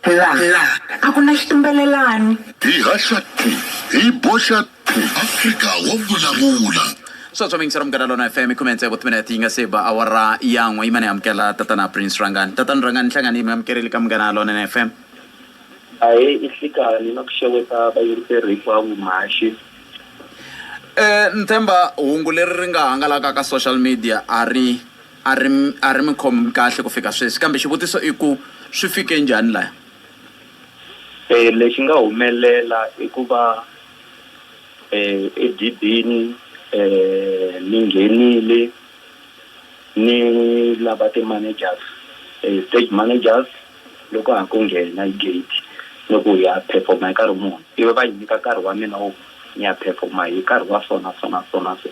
Laha a ku na xitumbelelani. Hi haxa thi, hi boxa thi. Afrika wa vulavula. Sweswo mingisi ra Munghana Lona FM khume ntsevu timinete yi nga se ba awara ya n'we yima ni amukela tatana Prince Rhangani tatana Rhangani hlangani mi amukerile ka Munghana Lona FM ahee i hlikani na ku xeweta vayingiseri hinkwavo mhaxi um ni tshemba hungu leri ri nga hangalaka ka social media a ri A ri a ri mi khom kahle ku fika sweswi kambe xivutiso i ku swi fike njhani laya? E lexi nga humelela i ku va e edibini e ni nghenile ni lava ti-managers e stage managers. Loko ha ku nghena hi gate ni ku hi ya perform-a hi nkarhi muni ivi va ni nyika nkarhi wa mina wo ku ni ya perform-a hi nkarhi wa so na so na so na so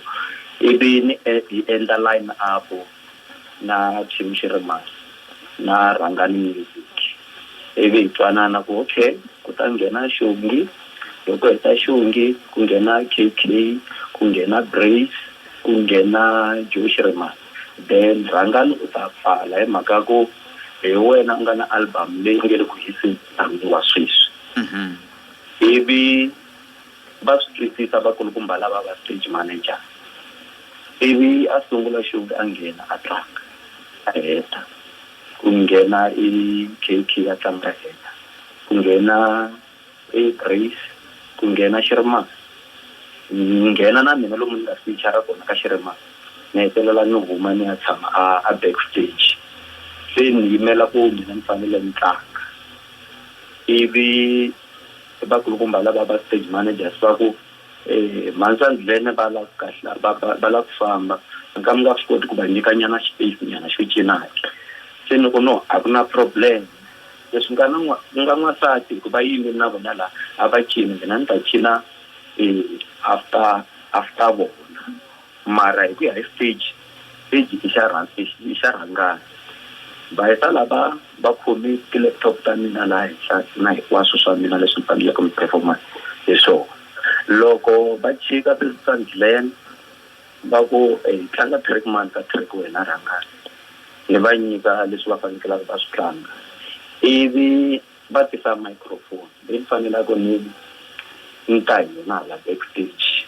ivi ni hi endla line up na team xi ri masi na rhanga ni music ivi hi twanana ku okay ku ta nghena xongi loko hi ta xongi ku nghena K_K ku nghena Brace ku nghena Joe Shirimani. Then Rhangani u ta pfala hi mhaka ya ku hi wena u nga na album leyi nge le ku hiseni wa sweswi ivi va swi twisisa vakulukumba lava va stage manager ivi a sungula xi a nghena a tlanga a heta ku nghena i K_K a tlanga a heta ku nghena Hey Grace, Ku nghena xi ri ma. Ni nghena na mina lomu ni nga sitichara kona ka xi ri ma. Ni hetelela ni huma ni ya tshama a a back stage. Se ni yimela ku mina ni fanele ni tlanga. Ivi vakulukumba lava va stage managers va ku, Mhani Sandlene va lava ku kahla va va va lava ku famba, mi nga mi nga swi koti ku va nyikanyana space nyana xo cinaka. Se ni ku no a ku na problem. Leswi nga na n'wa, ku nga n'wansati hikuva yi yimile na vona la, a va cini mina ni ta cina after after vona, mara hi ku ya hi stage, stage i xa rha i i xa rhangana. Va heta la va va khome ti-laptop ta mina laha henhla na hinkwaswo swa mina leswi ni faneleke ni perform-a hi swona. Loko va chika ti-sandland. Va ku, Hi tlanga track mani ka track wena rhangani ni va nyika leswi va fanekelaka va swi tlanga. Ivi va tisa microphone leyi ni fanelaka ni ni ta hi yona hala back stage.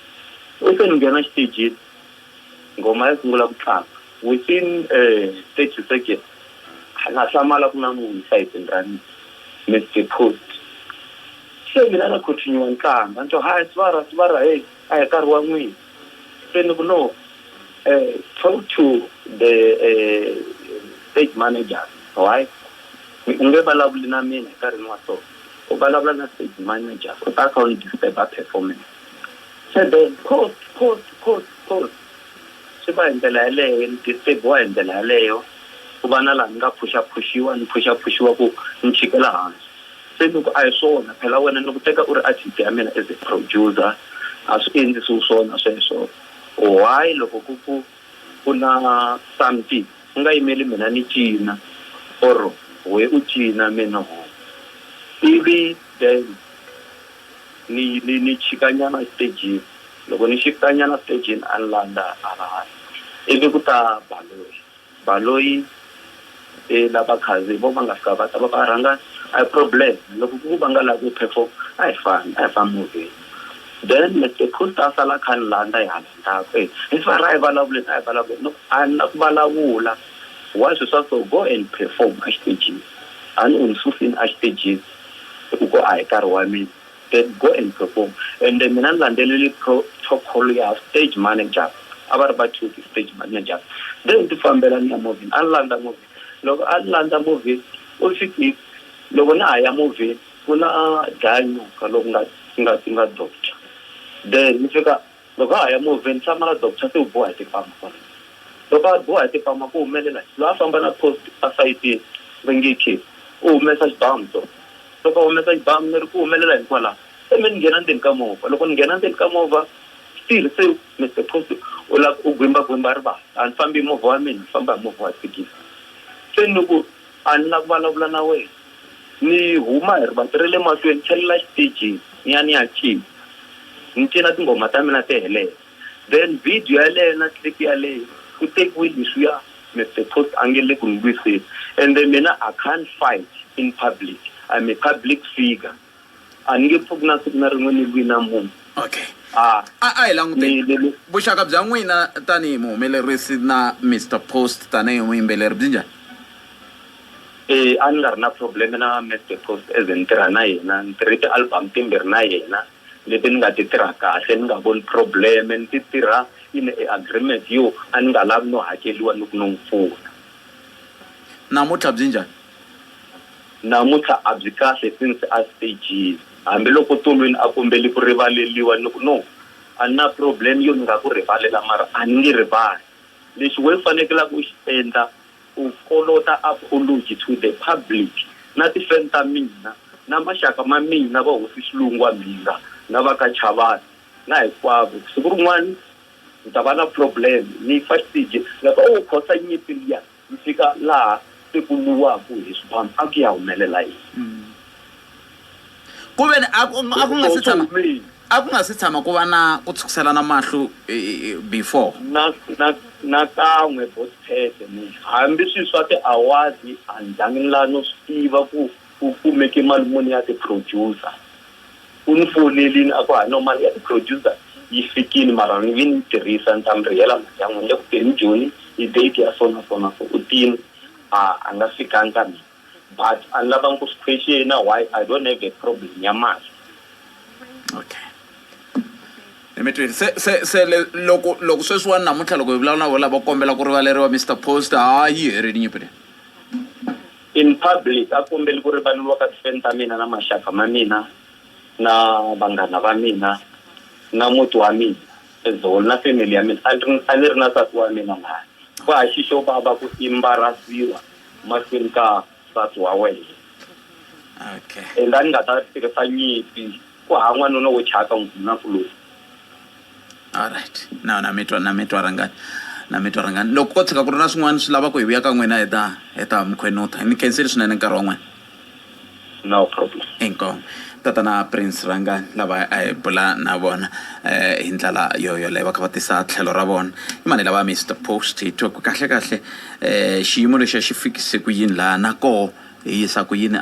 Ivi se ni nghena xitejini, nghoma ya sungula ku tlanga. Within thirty seconds a na hlamala a ku na munhu esayitini ra mina, ni deposed. Se mina na continue ni tlanga ni twa, Hayi Sibara, Sibara, heyi a hi nkarhi wa n'wina. Senukulo, eh, talk to the eh, stage manager, alright? U nge vulavuli na mina hi nkarhini wa so. U vulavula na stage manager, u ta kha u ni disturb-a performance. Se then, post, post, post, post. Swi va hi ndlela yaleyo, ni disturb-iwa hi ndlela yaleyo. Ku va na laha ni nga phuxaphuxiwa, ni phuxaphuxiwa ku ni chikela hansi. Se loko a hi swona, phela wena ni ku teka u ri artist ya mina as a producer, a swi endlisiwi swona sweswo. Why loko ku ku ku na something u nga yimeli mina ni cina or wehe u cina me ni homu, ivi then ni ni ni chika nyana xitejini, loko ni shiftanyana xitejini a ni landza hala hansi ivi ku ta Baloyi. Baloyi e la vakhandziyi vo va nga fika va ta va va rhanga a hi problem loko ku ku va nga la ku perform a hi fambi a hi fambi movheni then Mister Coast a sala a kha ni landza hi hala ndzhaku e hi swear a hi vulavuleni a hi vulavuleni ni ku a ni la ku vulavula why swi swa so go and perform a xitejini a ni u ni susini a xitejini hi ku ko a hi nkarhi wa mina Dad, go and perform ende mina ni landzelele protocol ya stage manager a va ri va two ti stage managers then ti fambela ni ya movheni a ni landza movheni loko a ni landza movheni u swi tiva loko na ha ya movheni ku na dlaya nyoka loko nga nga nga doctor then ni fika Loko a ha ya movheni, tshama ra Doctor se u biwa hi tipama kwalano. Loko a biwa hi tipama ku humelela yini? Loyi a famba na post a sayitini, ri nge khee, u humesa xibamu so. Loko a humesa xibamu, ni ri, Ku humelela yini kwalano? Se me ni nghena ndzeni ka movha. Loko ni nghena ndzeni ka movha, still se Mister Post u la ku gwimba-gwimba rivala. A ni fambi hi movha wa mina, ni famba hi movha wa thekisi. Se ni ku, A ni la ku vulavula na wena. Ni huma hi rivanti ra le mahlweni, ni tlhelela xitejini ni ya ni ya cina. Ni cina tinghoma ta mina ti helela. Then video yaleyo na clip yaleyo ku tekiwe leswiya Mister Toast a nge le ku ni lwiseni. Ende mina I can't fight in public, I'm a public figure. a ni nge pfuki na siku na rin'we ni lwi na munhu okay a a a hi languteni ni- ni- vuxaka bya n'wina tanihi muhumelerisi na mr post tanihi muyimbeleri byi njhani Eh, a ni nga ri na problem na Mr Post as ni tirha na yena ni tirhe ti-album timbirhi na yena leti ni nga ti tirha kahle ni nga voni problem ni ti tirha yi ni e agreement yo a ni nga lavi no hakeliwa ni ku no n'wi pfuna namuntlha byi njhani Namuntlha a byi kahle since a stejini. Hambi loko Tolweni a kombeli ku rivaleliwa ni ku, No, a ni na problem yo ni nga ku rivalela mara a ni nge rivali. Lexi wena u fanekelaka u xi endla u kolota apology to the public na ti-fan ta mina na maxaka ma mina va hosi Xilungu wa Mhinga na va ka Chavani na hinkwavo ku siku rin'wana ni ta va na problem ni fa xiteji ni nga ku, Owu Khosa nyimpi liya. Ku fika laha se ku lwiwaka hi swibamu a ku ya humelela yini? Ku ve ni a ku a ku nga si tshama a ku nga si tshama ku va na ku tshukiselana mahlo before? Na, na, nakan'we, Boss Pete, hambi swi swa tiawadi a ni zangi ni lava no swi tiva ku. U kumeke mali muni ya ti producer? U ni founelini a ku hayi no mali ya ti producer yi fikini mara ni nge ni yi tirhisa ni ta mi rihela mali ya n'wina ni le ku teni Joni hi date ya so na so na so u tini a a nga fikangi ka mina but a ni lavangi ku swi question-a why I don't have a problem ya mali. Okay ni mi twini se se se le loko loko sweswiwani namuntlha loko hi vulavula na vo lava kombela ku rivaleriwa Mister Post ha yi herini nyimpi leyi. In public, a kombeli ku rivaleriwa ka tifeni ta mina na maxaka ma mina na vanghana va mina na muti wa mina as whole na family ya mina. A ni a ni ri na nsati wa mina laha. Ku ha xi xo vava ku imbarasiwa mahlweni ka nsati wa wena. Okay. And a ni nga ta tirhisa nyimpi ku ha n'wanuna wo thyaka, n'wanakuloni. Alright na na mi twa na mi twa rhangani na mi twa rhangani loko ko tshuka ku ri na swin'wana swi lava ku hi vuya ka n'wina hi ta hi ta mi khwenutha ni khensile swinene nkarhi wa n'wina no problem inkomu tatana prince rhangani lava a hi bula na vona um hi ndlela yo yoleyo va kha va tisa tlhelo ra vona i mani lava mr post hi twa ku kahle kahle um xiyimo lexiya xi fikise ku yini laha na koho hi yisa ku yini .